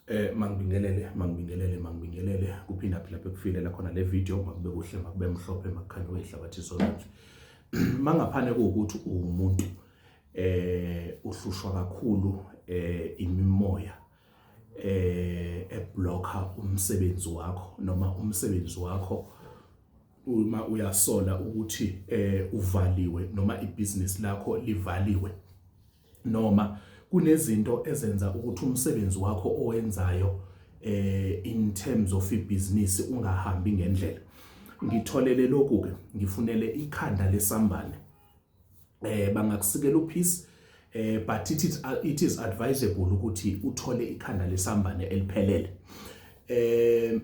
Eh mangibingelele mangibingelele mangibingelele kuphinda phila bekufile la khona le video makube kuhle makube mhlophe makukhanye wehlabathi sonke mangaphane ukuthi umuntu eh uhlushwa kakhulu eh imimoya eh eblocker umsebenzi wakho noma umsebenzi wakho uma uyasola ukuthi eh uvaliwe noma ibusiness lakho livaliwe noma kunezinto ezenza ukuthi umsebenzi wakho owenzayo eh in terms of ibhizinisi ungahambi ngendlela ngitholele lokhu ke ngifunele ikhanda lesambane eh bangakusikela uphisi eh but it is, uh, it is advisable ukuthi uthole ikhanda lesambane eliphelele eh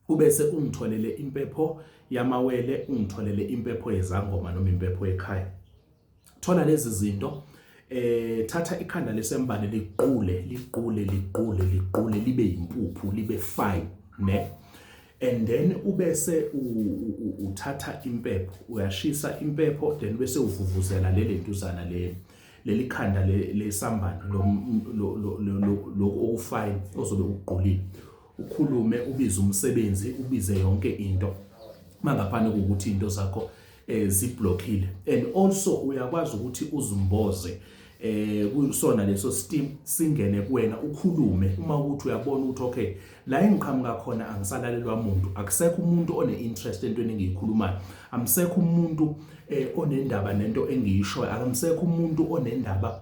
ubese ungitholele impepho yamawele ungitholele impepho yezangoma noma impepho yekhaya thola lezi zinto eh thatha ikhanda lesembane liqule liqule liqule liqule libe impuphu libe fine ne and then ubese uthatha impepho uyashisa impepho then bese uvuvuzela leli ntuzana le leli khanda lesambane lo lo lo okufine ozobe uqulile ukhulume ubize umsebenzi ubize yonke into mangaphandle kokuthi into zakho eh, ziblockile and also uyakwazi ukuthi uzimboze eh kusona leso steam singene kuwena ukhulume uma ukuthi uyabona ukuthi okay la engiqhamuka khona angisalalelwa umuntu akusekho umuntu one interest entweni engiyikhulumayo amsekho umuntu eh onendaba nento engiyishoyo akamsekho umuntu onendaba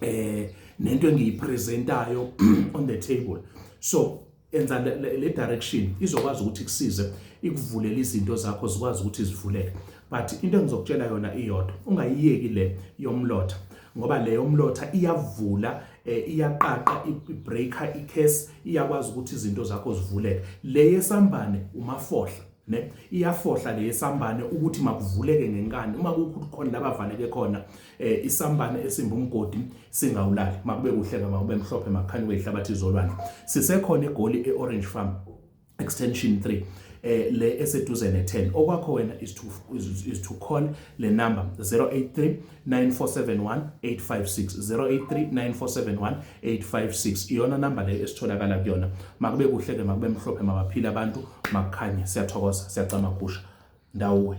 eh nento engiyipresentayo on the table so enza le, le, le direction izokwazi ukuthi kusize ikuvulele izinto zakho zikwazi ukuthi zivuleke but into engizokutshela yona iyodwa ungayiyeki le yomlotha ngoba le yomlotha iyavula eh, iyaqaqa ibreaker icase iyakwazi ukuthi izinto zakho zivuleke le yesambane umafohla ne iyafohla le yesambane ukuthi makuvuleke ngenkani uma kukhona labavaleke khona eh isambane esimba umgodi singawulali makube kuhle ke makube mhlophe makhanye kwehlabathi izolwandle sisekhona egoli eorange farm extension 3 eh le eseduze ne 10 okwakho wena is to is, is to call le number 083 9471 856 083 9471 856 iyona number le esitholakala kuyona makube kuhle ke makube mhlophe mabaphila abantu makukhanye siyathokoza siyacama kusha ndawuwe